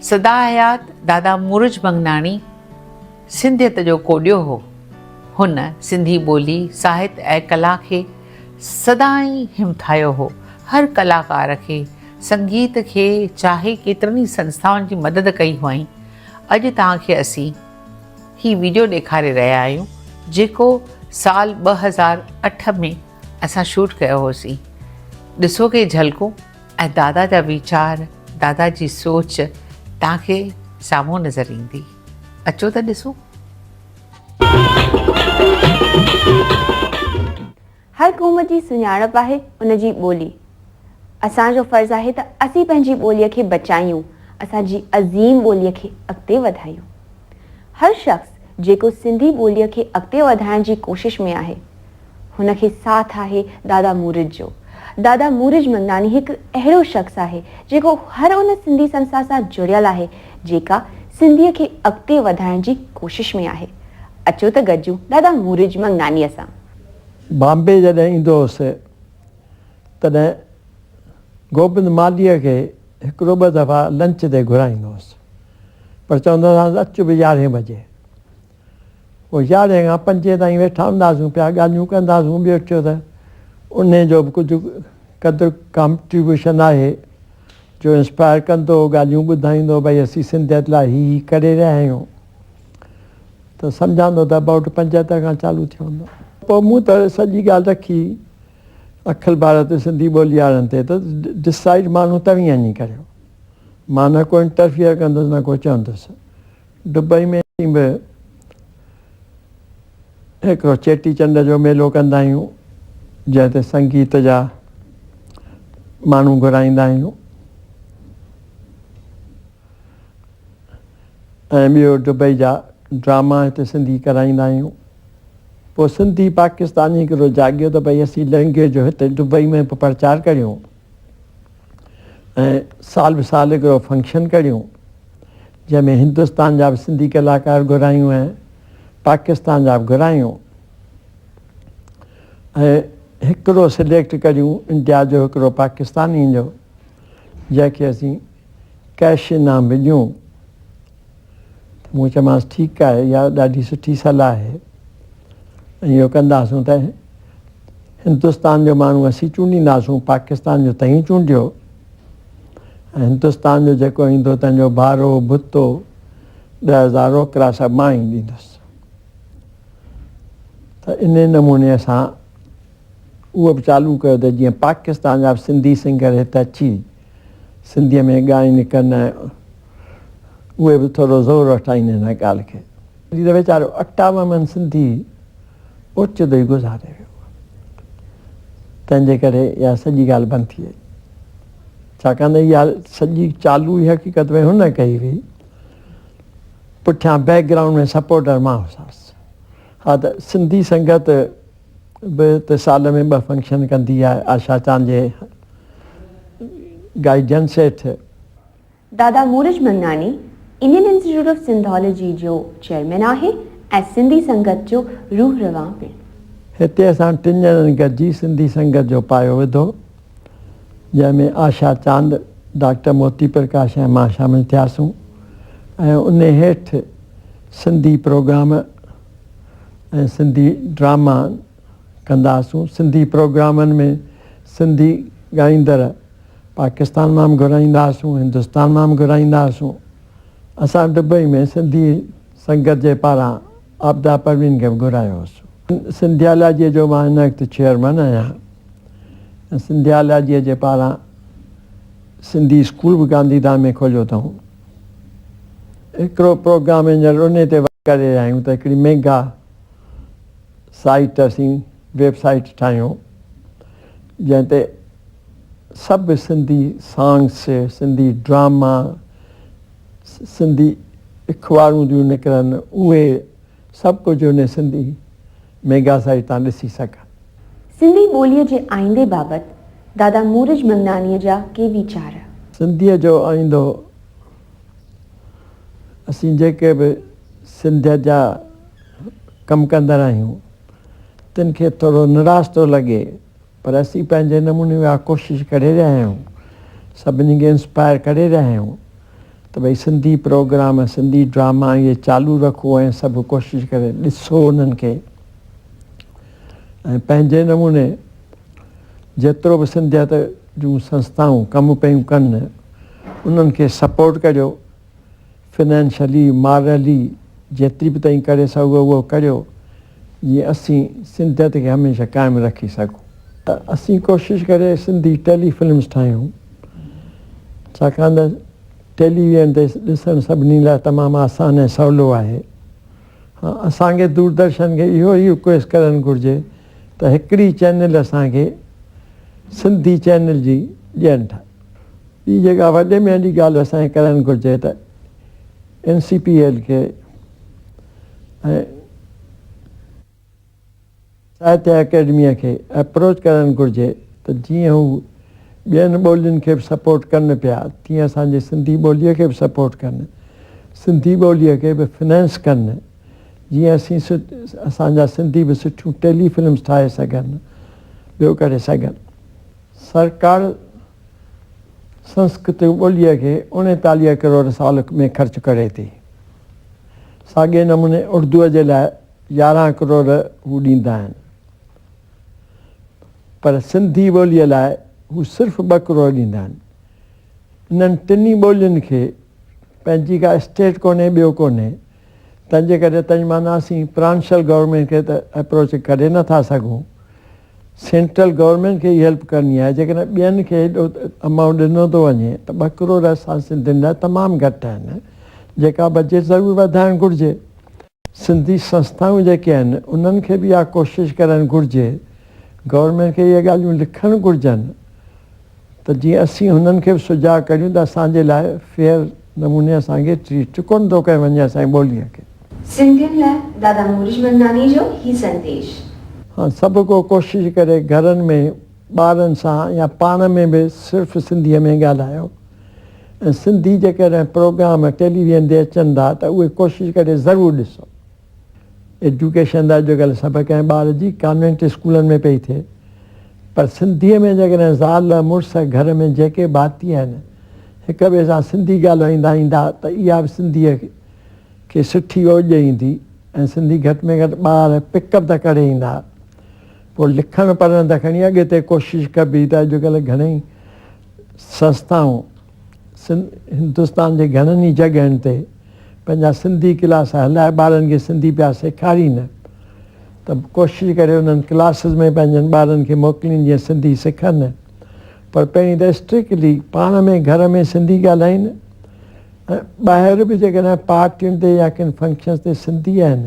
سدا حيات دادا مورج منگناڻي سنڌيت جو ڪوڏيو هو. هن سنڌي ٻولي، ساهت ۽ ڪلا کي سدائين همٿايو هو. هر ڪلاڪار کي، سنگيت کي چاهي ڪيترن ئي سنسٿائن جي مدد ڪئي هئائين. اڄ توهان کي اسين هي وڊيو ڏيکاري رهيا آهيون جيڪو سال ٻه هزار اٺ ۾ اسان شوٽ ڪيو هوسين ڏسو ڪي جهلڪون ۽ دادا جا ويچار دادا جي سوچ تان کي سامهون نظر ايندي اچو ته ڏسون. هر قوم جي سڃاڻپ آهي ان جي ٻولي اسان جو فرض آهي ته اسين پنهنجي ٻولي کي بچايون اسان جي عظيم ٻولي کي اڳتي وڌايون هر شخص جيڪو سنڌي ٻولي کي اڳتي وڌائڻ جي ڪوشش ۾ آهي هن کي ساٿ آهي دادا مورج جو. دادا مورج منداڻي هڪ اهڙو شخص آهي جيڪو هر ان سنڌي سنسٿا سان جڙيل آهي جيڪا سنڌيء کي اڳتي وڌائڻ جي ڪوشش ۾ آهي. اچو ته گڏجون دادا مورج مڱناڻيء سان. بامبي جڏهن ايندو هوس تڏهن گوبند مالهيء کي هڪڙو ٻه دفعا لنچ تي گهرائيندو هوس پر چوندو هوسانس اچ به يارهين بجي پوء يارهين کان پنجين تائين ويٺا هونداسون پيا، ڳالهيون ڪنداسون، ٻيو ڇو ته انهي جو به ڪجهه قدر ڪانٽريبيوشن آهي، جو انسپائر ڪندو، ڳالهيون ٻڌائيندو، ڀئي اسين سنڌيت لاء هي هي ڪري رهيا آهيون، ته سمجهندو ته ابائوٽ پنجهتر کان چالو ٿيو هوندو. پوء مون ته سڄي ڳالهه رکي اکل ڀارت سنڌي ٻولي وارن تي ته ڊسائيڊ ماڻهو توهين اڃي ڪريو، مان نه ڪو انٽرفيئر ڪندس نه ڪو چوندس، دبئي ۾ به هڪ چيٽي چنڊ جو ميلو ڪندا آهيون جنهن تي سنگيت جا ماڻهو گهرائيندا آهيون ۽ ٻيو دبئي جا ڊراما هتي سنڌي ڪرائيندا آهيون پوء سنڌي پاڪستاني هڪڙو جاڳيو ته ڀئي اسين لهنگي جو هتي دبئي ۾ به پرچار ڪريون. ۽ سال به سال هڪڙو فنڪشن ڪڙهيون جنهن ۾ هندستان جا به سنڌي ڪلاڪار گهرايون ۽ پاڪستان جا به گهرايون ۽ هڪڙو سليڪٽ ڪڙهيون انڊيا جو هڪڙو پاڪستانين جو جنهن کي اسين ڪيش انعام به ڏيون مون چيومانس ٺيڪ آهي اها ڏاڍي سٺي صلاح آهي ۽ اهو ڪنداسون ته هندستان جو ماڻهو اسين چونڊينداسون پاڪستان جو تنهين چونڊيو ۽ هندستان جو جيڪو ايندو تنهن جو بارو ڀتو ڏهه هزار روڪرا سڀ مان ئي ڏيندس ته ان نموني اسان اهو به چالو ڪيو ته جيئن پاڪستان جا به سنڌي سنگر هت اچي سنڌيء ۾ ڳائين ڪن اهي به ٿورو زور وٺائين هن ڳالهه کي. هي ته ويچارو اڪٽاوه من سنڌي اوچتو ئي گذاري ويو تنهن جي ڪري اها سڄي ڳالهه بند ٿي وئي ڇاڪاڻ ته اها سڄي چالو ئي حقيقت ۾ هن ڪئي هئي پٺيان بيڪ گرائونڊ ۾ سپورٽر مان هوساس ها ته سنڌي سنگت به ته سال ۾ ٻه فنڪشن ڪندي آهي آشا چانه جي گائي جن سيٺ. دادا مورج منڱاڻي انڊين انسٽيٽيوٽ آف سنڌالاجي جو چيئرمين آهي ۽ سنڌي سنگت جو روح روان پڻ. هتي اسان ٽن ڄڻن گڏجي سنڌي سنگت جو پايو وڌو جنهن ۾ آشا چاند، ڊاڪٽر موتي پرڪاش ۽ مان شامل ٿياسون ۽ انهي هيٺ سنڌي پروگرام، ۽ سنڌي ڊراما ڪنداسون سنڌي پروگرامن ۾ سنڌي ڳائيندڙ پاڪستان مان به گهرائينداسون هندستان مان به گهرائينداسون اسان دبئي ۾ سنڌي سنگت جي پاران عابده پروين کي به گهرايو هوسون سنڌيالاجي جو مان هن وقت چيئرمن آهيان ۽ سنڌيالاجي جي پاران سنڌي اسڪول به گانڌي ڌام ۾ کوليو اٿئون هڪڙو پروگرام انجڻ انهي تي ورڪ ڪري رهيا آهيون ته هڪڙي ميگا سائيٽ اسين ويب سائيٽ ٺاهيون جنهن تي سڀ سنڌي سانگس سنڌي ڊراما سنڌي اخبارون جون نڪرن اهي سڀ ڪجهه انهي سنڌي ميگا سائيٽ تان ڏسي سگهن. سنڌي ٻوليء جي آئيندي بابت دادا مورج منڱانيء جا ڪي ويچار. سنڌيء جو آئيندو، اسين جيڪي به سنڌيت جا ڪم ڪندڙ آهيون، تن کي ٿورو نراش ٿو لڳي. پر اسين پنهنجي نموني اها ڪوشش ڪري رهيا آهيون سڀني کي انسپائر ڪري رهيا آهيون ته ڀئي سنڌي پروگرام سنڌي ڊراما اهي چالو رکو ۽ سڀ ڪوشش ڪري ڏسو انهن کي ۽ پنهنجي نموني جيترو به سنڌيت جون سنستائون ڪم پيون ڪن انهن کي سپورٽ ڪريو فنانشلي مارلي جيتري به تائين ڪري سگهو اهو ڪريو جيئن اسين سنڌيت کي هميشه قائم رکي سگهون. اسين ڪوشش ڪري سنڌي ٽيلي فلمز ٺاهيون ڇاڪاڻ ته ٽيلي ويئن تي ڏسڻ سڀني لاء تمام آسان ۽ سولو آهي ها اسان کي دوردرشن کي اهو ئي رڪويسٽ ڪرڻ گهرجي ته هڪڙي چينل اسان کي سنڌي چينل جي ڏين ٺاهي. ٻي جيڪا وڏي ۾ وڏي ڳالهه اسان کي ڪرڻ گهرجي ته اين سي پي ايل کي ۽ ساهتيه اڪيڊميء کي اپروچ ڪرڻ گهرجي ته جيئن هو ٻين ٻولين کي به سپورٽ ڪن پيا تيئن اسان جي سنڌي ٻوليء کي به سپورٽ ڪن سنڌي ٻوليء کي به فنانس ڪن جيئن اسين اسان جا سنڌي به سٺيون ٽيلي فلمس ٺاهي سگهن ٻيو ڪري سگهن. سرڪار سنسڪرت ٻوليء کي اڻيتاليهه ڪروڙ سال ۾ خرچ ڪري ٿي. ساڳئي نموني اردوء جي لاء يارهن ڪروڙ هو ڏيندا آهن. پر سنڌي ٻوليء لاء هو صرف ٻه ڪروڙ ڏيندا آهن. انهن ٽنهي ٻولين کي پنهنجي ڪا اسٽيٽ ڪونهي، ٻيو ڪونهي. تنهنجي ڪري تنهنجي معنيٰ اسين پرانشل گورنمينٽ کي ته اپروچ ڪري نه ٿا سگهون. سينٽرل گورنمينٽ کي ئي هيلپ ڪرڻي آهي جيڪڏهن ٻين کي هيڏو امائونٽ ڏنو ٿو وڃي ته ٻه ڪروڙ اسان سنڌين لاء تمام گهٽ آهن جيڪا بجيٽ ضرور وڌائڻ گهرجي سنڌي سنسٿائون جيڪي آهن انهن کي به اها ڪوشش ڪرڻ گهرجي گورنمينٽ کي اهي ڳالهيون لکڻ گهرجن ته جيئن اسين هنن کي به سجاڳ ڪريون ته اسان جي لاء فيئر نموني اسان کي ٽريٽ ڪونه ٿو ڪيو وڃي اسان جي ٻوليء کي. سنڌين لاء دادا مورش منداڻي جو هي سنديش. هان سڀ ڪو ڪوشش ڪري گهرن ۾ ٻارن سان يا پاڻ ۾ به صرف سنڌيء ۾ ڳالهايو ۽ سنڌي جيڪڏهن پروگرام ٽيليويزن تي اچن ٿا ته اهي ڪوشش ڪري ضرور ڏسو. ايجوڪيشن لاء جيڪا ڳالهه سڀ ڪنهن ٻار جي ڪانوينٽ اسڪولن ۾ پئي ٿئي پر سنڌيء ۾ جيڪڏهن زال مڙس گهر ۾ جيڪي ڀاتي آهن هڪ ٻئي سان سنڌي ڳالهائيندا ايندا ته اها به سنڌيء کي سٺي اوڄ ايندي ۽ سنڌي گهٽ ۾ گهٽ ٻار پڪ اپ ته ڪري ايندا پوء لکڻ پڙهڻ ته کڻي اڳتي ڪوشش ڪبي ته اڄڪلهه گهڻيئي سنسٿائون سنڌ هندستان جي گهڻن ئي جڳهن تي پنهنجا سنڌي ڪلاس هلائي ٻارن کي سنڌي پيا سيکارين ته ڪوشش ڪري انهن ڪلاسز ۾ پنهنجن ٻارن کي موڪلين جيئن سنڌي سکن پر پهرين ته اسٽرڪلي پاڻ ۾ گهر ۾ سنڌي ڳالهائين ۽ ٻاهر به جيڪڏهن پارٽين تي يا ڪن فنڪشنز تي سنڌي آهن